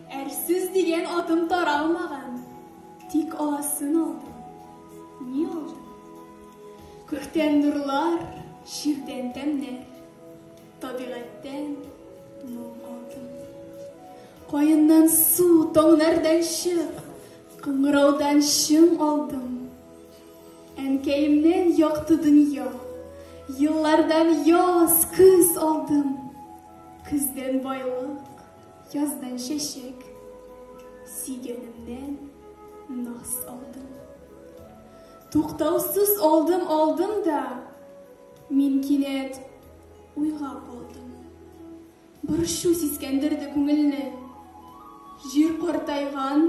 Әрсүз дигән атым таралмаган, тик аласын алдым. Ни алдым? Күктән нурлар, ширдән тәмнәр, табигатьтән моң алдым. Каеннан су, таңнардан чык, кыңгыраудан чың алдым. Әнкәемнен якты дөнья. Еллардан яз, көз алдым. Көздән байлык, яздан чәчәк. Сөйгәнемнән наз алдым. Туктаусыз алдым, алдым да, мин кинәт уйга калдым. Борчу сискәндерде күңелне. Җир картайган,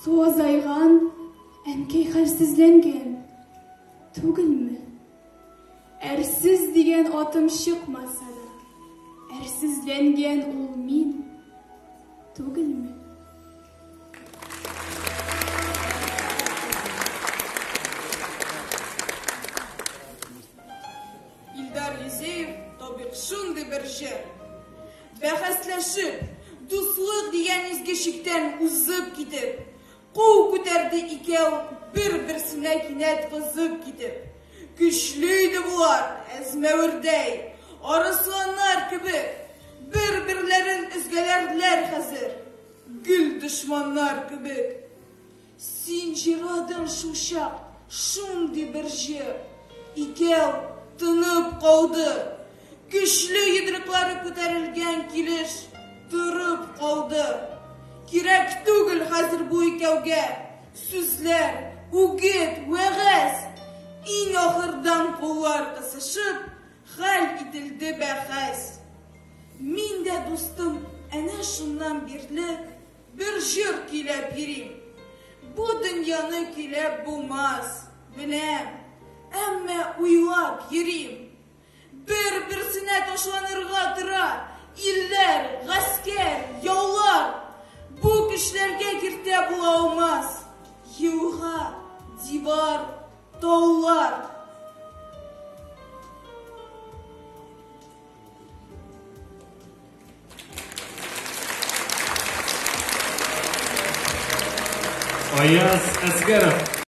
су азайган, әнкәй хәлсезләнгән. Түгелме? Әрсез дигән атым чыкмаса да, әрсезләнгән ул мин. Түгелме? Илдар Юзеев то бик шундый бер җыр. Бәхәсләшеп, дуслык дигән изге чиктән узып китеп, кул күтәрде икәү бер-берсенә кинәт кызып китеп. Көчле иде болар, әзмәвердәй, арысланнар кебек, бер-берләрен өзгәләрләр хәзер, гел дошманнар кебек. Син җырладың шулчак шундый бер җыр. Икәү тынып калды. Көчле йодрыклары күтәрелгән килеш торып калды. Кирәк түгел хәзер бу икәүгә сүзләр, үгет, вәгазь. Иң ахырдан куллар кысышып, хәл ителде бәхәс. Мин дә дустым әнә шуннан бирле Бер җыр көйләп йөрим. Бу дөньяны көйләп булмас, беләм, әмма уйлап йөрим. Бер-берсенә ташланырга тора илләр, гаскәр, яулар. Бу көчләргә киртә була алмас елга, дивар, таулар. Аяз Әсгәров.